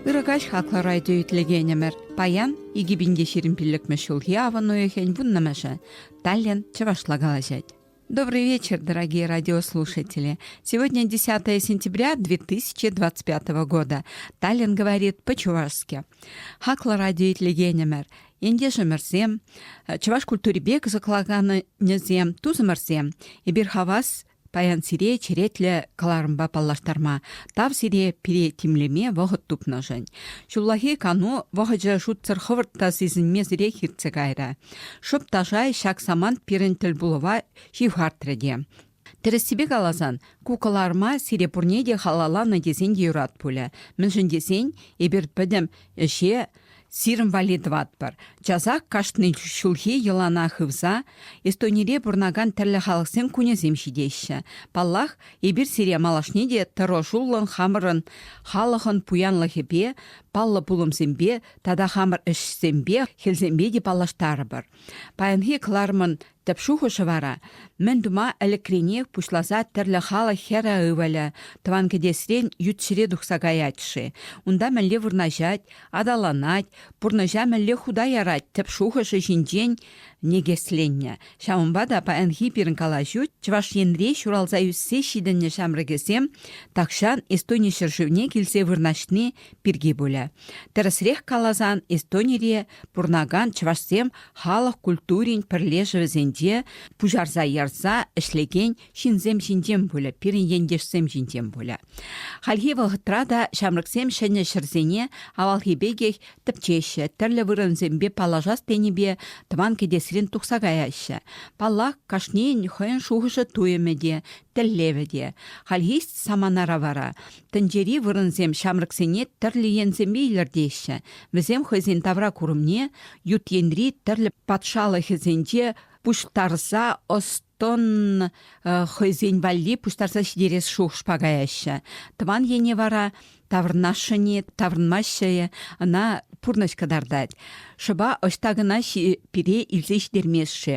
Ырӑ каҫ хаклӑ райдо итлекенӗмӗр. Паян икӗ пин те ҫирӗм пиллӗкмӗш ҫулхи авӑн уйӑхӗн вуннӑмӗшӗ. Таллин чӑвашла калаҫать. Добрый вечер, дорогие радиослушатели. Сегодня 10 сентября 2025 года. Таллин говорит по-чувашски. Хаклӑ радиоитлегенӗмӗр, ентешӗмӗрсем, чӑваш культурипе кӑсӑкланӑвӗсем, тусӑмӑрсем, эпир хавас паян сире черетлӗ кӑларӑмпа паллаштарма, тав сире пире тимлеме вӑхӑт тупнӑшӑн. Ҫуллахи кану вӑхӑчӗ шутсӑр хӑвӑрт та сисӗнмесӗрех иртсе кайрӗ. Шӑп та шай ҫак самант пирӗн тӗлпулӑва ҫывхартрӗ те. Тӗрӗссипе каласан, ку кӑларӑма сире пурне те халалланӑ тесен те юрат пулӗ. Мӗншӗн тесен эпир пӗтӗм ӗҫе сирӗн валли тӑватпӑр. Часах кашни ҫулхи йӑлана хывса Эстонире пурӑнакан тӗрлӗ халӑхсен кунӗсем ҫитеҫҫӗ. Паллах, эпир сире малашне те тӑрӑшуллӑн хамӑрӑн халӑхӑн пуянлӑхӗпе, паллӑ пулӑмсемпе тата хамӑр ӗҫсемпе, хӗлсемпе те паллаштарӑпӑр. Паянхи кӑларӑмӑн тӗп шухӑшӗ вара мӗн тума ӗлӗкренех пуҫласа тӗрлӗ халӑх хӗрӗ ывӑлӗ тӑван кӗтесрен ют ҫӗре тухса каять-ши, унта мӗнле вырнаҫать, аталанать, пурнӑҫа мӗнле хута ярать тӗп шухӑшӗ ҫинчен никӗсленнӗ. Ҫавӑнпа та паянхи пирӗн калаҫу Чӑваш Енре ҫуралса ӳссе ҫитӗннӗ ҫамрӑкӗсем тахҫан Эстони ҫӗршывне килсе вырнаҫни пирки пулӗ. Тӗрӗсрех каласан, Эстонире пурӑнакан чӑвашсем халӑх культурин пӗрлешӗвӗсенче пуҫарса-ярса ӗҫлекен ҫынсем ҫинчен пулӗ, пирӗн ентешсем ҫинчен пулӗ. Хальхи вӑхӑтра та ҫамрӑксем ҫӗнӗ ҫӗрсене авалхи пекех тӗпчеҫҫӗ, тӗрлӗ вырӑнсемпе паллашас тенипе тӑван кӗтесрен тухса каяҫҫӗ. Паллах, кашнийӗн хӑйӗн шухӑшӗ-туйӑмӗ те, тӗллевӗ те. Хальхи саманара вара Тӗнчери вырӑнсем ҫамрӑксене тӗрлӗ енсемпе илӗртеҫҫӗ. Вӗсем хӑйсен тавра курӑмне ют енри тӗрлӗ патшалӑхӗсенче пуҫтарса ӑс-тӑн хӑйсен валли пуҫтарса ҫитерес шухӑшпа каяҫҫӗ. Тӑван ене вара таврӑнасшӑн-и, таврӑнмаҫҫӗ-и, ӑна пурнӑҫ кӑтартать. Шӑпа ӑҫта кӑна пире илсе ҫитермест-ши?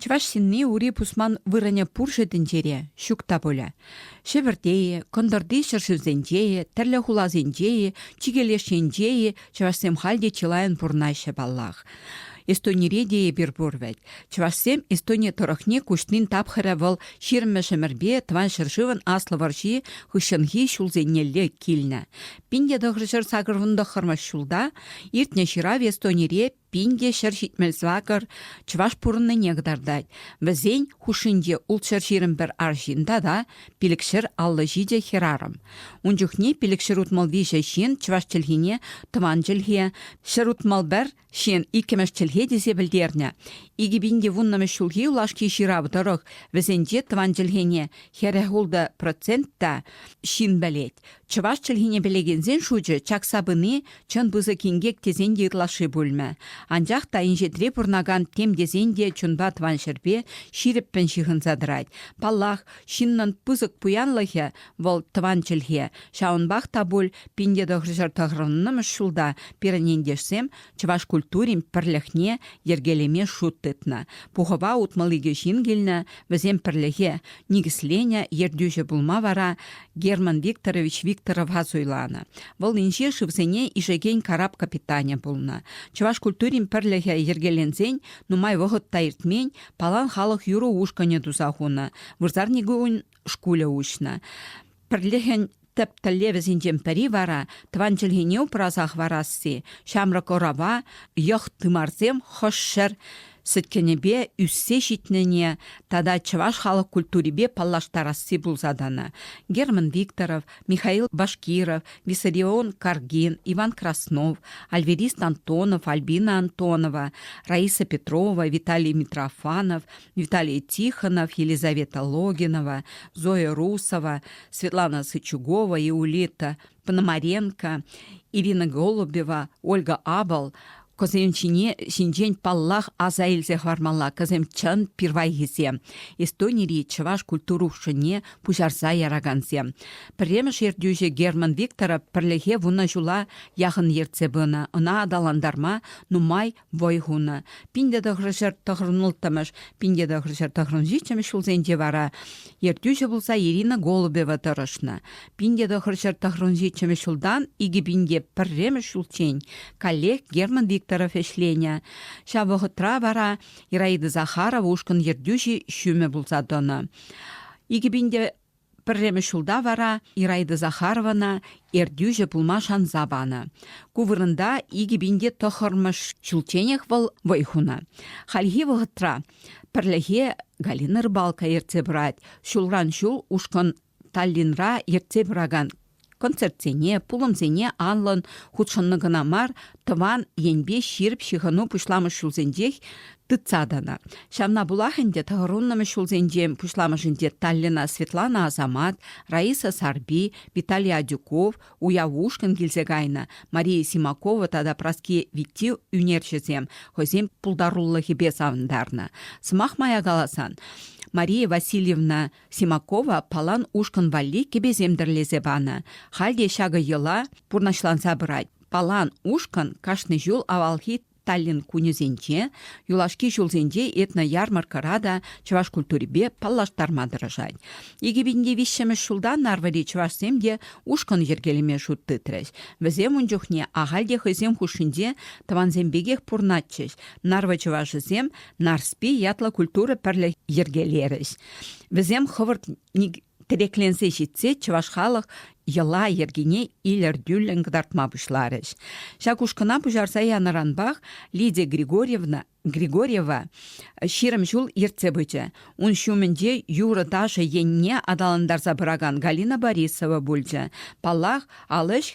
Чӑваш ҫынни ури пусман вырӑнӗ пур-ши тӗнчере? Ҫук та пулӗ. Ҫӗвӗрте-и, кӑнтӑрти ҫӗршывсенче-и, тӗрлӗ хуласенче-и, чикӗ леш енче-и чӑвашсем халь те чылайӑн пурӑнаҫҫӗ паллах. Эстонире те эпир пур вӗт. Чӑвашсем Эстони тӑрӑхне куҫнин тапхӑрӗ вӑл ҫирмӗшӗмӗрпе тӑван ҫӗршывӑн аслӑ вӑрҫи хыҫҫӑнхи ҫулсенелле килнӗ. Пин те тӑхӑр ҫӗр сакӑр вунтӑххӑрмӗш ҫулта иртнӗ ҫырав Эстонире Пин те ҫӗр ҫитмӗл сакӑр чӑваш пурӑннине кӑтартать. Вӗсен хушшинче ултҫӗр ҫирӗм пӗр арҫын тата пилӗкҫӗр аллӑ ҫичӗ хӗрарӑм. Ун чухне пилӗкҫӗр утмӑл виҫӗ ҫын чӑваш чӗлхине, тӑван чӗлхе, ҫӗр утмӑл пӗр ҫын иккӗмӗш чӗлхе тесе пӗлтернӗ. Икӗ пин те вуннӑмӗш ҫулхи юлашки ҫырав тӑрӑх вӗсенче тӑван чӗлхене хӗрӗх-ултӑ процент та ҫын пӗлет. Чӑваш чӗлхине пӗлекенсен шучӗ чакса пыни чӑн пысӑк инкек тесен те ытлашши пулмӗ. Анчах та инҫетре пурӑнакан тем тесен те чунпа тӑван ҫӗрпе ҫирӗппӗн ҫыхӑнса тӑрать. Паллах, ҫыннӑн пысӑк пуянлӑхӗ вӑл тӑван чӗлхе. Ҫавӑнпах та пуль пин те тӑхӑрҫӗр тӑхӑрӑннӑмӗш ҫулта пирӗн ентешсем чӑваш культурин пӗрлӗхне йӗркелеме шут тытнӑ. Пухӑва утмӑл икӗ ҫын килнӗ, вӗсем пӗрлӗхе никӗсленӗ, ертӳҫӗ пулма вара Герман Викторович Викторова суйланӑ. Вӑл инҫе шывсене ишекен карап капитанӗ пулнӑ. Чӑваш культурин пӗрлӗхӗ йӗркеленсен нумай вӑхӑт та иртмен Палан халӑх юрӑ ушкӑнӗ туса хунӑ, вырсарникун шкулӗ уҫнӑ. Пӗрлӗхӗн тӗп тӗллевӗсенчен пӗри вара, тӑван чӗлхене упраса хӑварасси, ҫамрӑк ӑрӑва йӑх-тымарсем хӑшҫӗр сӗткенӗпе ӳссе ҫитнине тата чӑваш халӑх культурипе паллаштарасси пулса тӑнӑ. Герман Викторов, Михаил Башкиров, Виссарион Каргин, Иван Краснов, Альверист Антонов, Альбина Антонова, Раиса Петрова, Виталий Митрофанов, Виталий Тихонов, Елизавета Логинова, Зоя Русова, Светлана Сычугова, Иулита Пономаренко, Ирина Голубева, Ольга Абал кӑсем ҫине ҫинчен паллах аса илсе хӑвармалла кӑсем чӑн пирвайхисем Эстонири чӑваш культура ушкӑнне пуҫарса яракансем пӗрремӗш ертӳҫӗ Герман Викторов пӗрлӗхе вунӑ ҫула яхӑн ертсе пынӑ ӑна аталантарма нумай вӑй хунӑ. Пинте тӑхрӑшӑр тӑхрӑн улттӑмӗш, пинте тӑхрӑшӑр тӑхрӑн ҫиччӗмӗш ҫулсенче вара ертӳҫӗ пулса Ирина Голубева тӑрӑшнӑ. Пинте тӑхрӑшӑр тӑхрӑн ҫиччӗмӗш ҫултан икӗ пинте пӗрремӗш ҫулччен коллег Герман Викторов ӗҫленӗ. Ҫав вӑхӑтра вара Ираида Захарова ушкӑн ертӳҫи ҫумӗ пулса тӑнӑ. Икӗ пинте Пӗрремӗш ҫулта вара Ираида Захарована ертӳҫӗ пулма шанса панӑ. Ку вырӑнта икӗ пин те тӑхӑрмӗш ҫулчченех вӑл вӑй хунӑ. Хальхи вӑхӑтра пӗрлӗхе Галина Рыбалка ертсе пырать. Ҫулран ҫул ушкӑн Таллинра ертсе пыракан концертсене, пулӑмсене анлӑн хутшӑннӑ кӑна мар, тӑван енпе ҫирӗп ҫыхӑну пуҫламӑш ҫулсенчех тытса тӑнӑ. Ҫавна пулах ӗнтӗ тӑхӑрӑннӑмӗш ҫулсенче пуҫламӑшӗнче Таллина Светлана Асамат, Раиса Сарпи, Виталий Адюков, уяв ушкӑн килсе кайнӑ, Мария Симакова тата Праски Витти ӳнерҫӗсем хӑйсен пултарулӑхӗпе савӑнтарнӑ. Сӑмах мая каласан, Мария Васильевна Симакова палан ушкӑн валли кӗпесем тӗрлесе панӑ. Халь те ҫакӑ йӑла пурнӑҫланса пырать. Палан ушкӑн кашни ҫул авалхи Таллин кунӗсенче, юлашки ҫулсенче этно-ярмаркӑра та чӑваш культурипе паллаштарма тӑрӑшать. 2005 ҫултан Нарвӑри чӑвашсем те ушкӑн йӗркелеме шут тытрӗҫ. Вӗсем ун чухне ахаль те хӑйсем хушшинче тӑвансем пекех пурӑнатчӗҫ. Нарвӑ чӑвашӗсем Нарспи ятлӑ культура пӗрлӗх йӗркелерӗҫ. Вӗсем хӑвӑрт тӗрекленсе ҫитсе чӑваш халӑх йӑла-йӗркине илӗртӳллӗн кӑтартма пуҫларӗҫ. Ҫак ушкӑна пуҫарса янӑранпах Лидия Григорьевна Григорьева ҫирӗм ҫул ертсе пычӗ. Ун ҫумӗнче юрӑ-ташӑ енне аталантарса пыракан Галина Борисова пулчӗ. Паллах, ал ӗҫ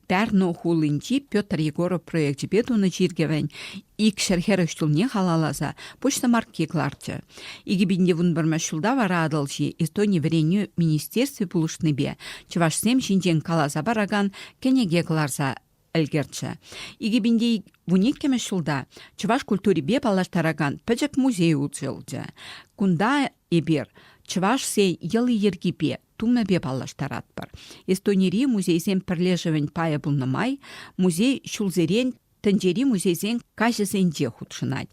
Пярну хулинчи Петр Егоров проекчӗпе тунӑ чиркӗвӗн икҫӗр хӗрӗх ҫулне халалласа почта марки кӑларчӗ. 2015 ҫулта вара Атӑлҫи Эстони вӗренӳ министерстви пулӑшнипе чӑвашсем ҫинчен каласа паракан кӗнеке кӑларса ӗлкӗрчӗ. 2012 ҫулта чӑваш культурипе паллаштаракан пӗчӗк музей уҫӑлчӗ. Кунта эпир чӑвашсен йӑли-йӗркипе тумӗпе паллаштаратпӑр. Эстонири музейсен пӗрлешӗвӗн пайӗ пулнӑ май музей ҫулсерен тӗнчери музейсен каҫӗсенче хутшӑнать.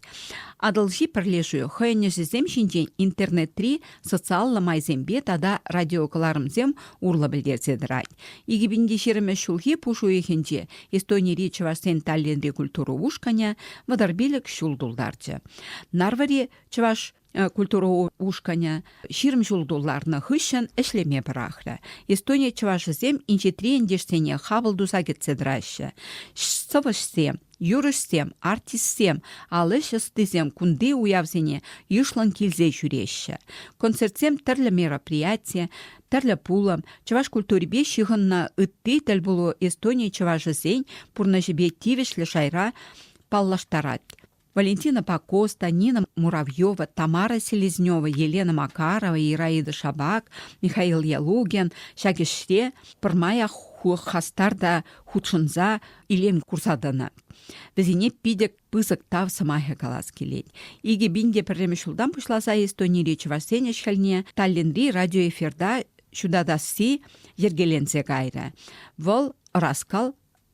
Атӑлҫи пӗрлешӳ хӑйӗн ӗҫӗсем ҫинчен интернетри социаллӑ майсемпе тата радиокӑларӑмсем урлӑ пӗлтерсе тӑрать. 2020 ҫулхи пуш уйӑхӗнче Эстонири чӑвашсен Таллинри культура ушкӑнӗ вӑтӑр пилӗк ҫул тултарчӗ. Нарвӑри чӑваш культура ушкӑнӗ ҫирӗм ҫул тулларнӑ хыҫҫӑн ӗҫлеме пӑрахрӗ. Эстония чӑвашӗсем инҫетри ентешсене хапӑл туса кӗтсе тӑраҫҫӗ. Сӑвӑҫсем, юрӑҫсем, артистсем, ал ӗҫ ӑстисем кунти уявсене йышлӑн килсе ҫӳреҫҫӗ. Концертсем тӗрлӗ мероприяти, тӗрлӗ пулӑм, чӑваш культурипе ҫыхӑннӑ ытти тӗлпулу Эстони чӑвашӗсен пурнӑҫӗпе тивӗҫлӗ шайра паллаштарать. Валентинӑпа Коста, Нина Муравьева, Тамара Селезнева, Елена Макарова, Ираида Шабак, Михаил Ялугин ҫак ӗҫре пӗрмаях хулӑх хастар та хутшӑнса илем курса тӑнӑ. Вӗсене питӗ пысӑк тав сӑмахӗ калас килет. Икӗ пин те пӗрремӗш ҫултан пуҫласа Эстонири чӑвашсен ӗҫ-хӗлне Таллинри радиоэфирта ҫутатасси йӗркеленсе кайрӗ. Вӑл ӑраскал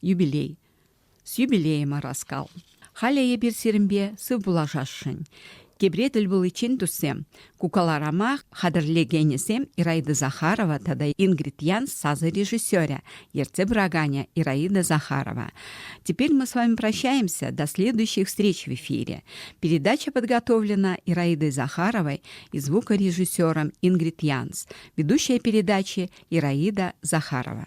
юбилей. С юбилеем ӑраскал. Халӗ эпир сирӗнпе сыв пулашасшӑн. Тепре тӗл пуличчен туссем, кукаларамах хатӗрлекенӗсем Ираида Захарова тата Ингрид Ян сасӑ режиссерӗ, ертсе пыраканӗ Ираида Захарова. Теперь мы с вами прощаемся до следующих встреч в эфире. Передача подготовлена Ираидой Захаровой и звукорежиссером Ингрид Янс. Ведущая передачи Ираида Захарова.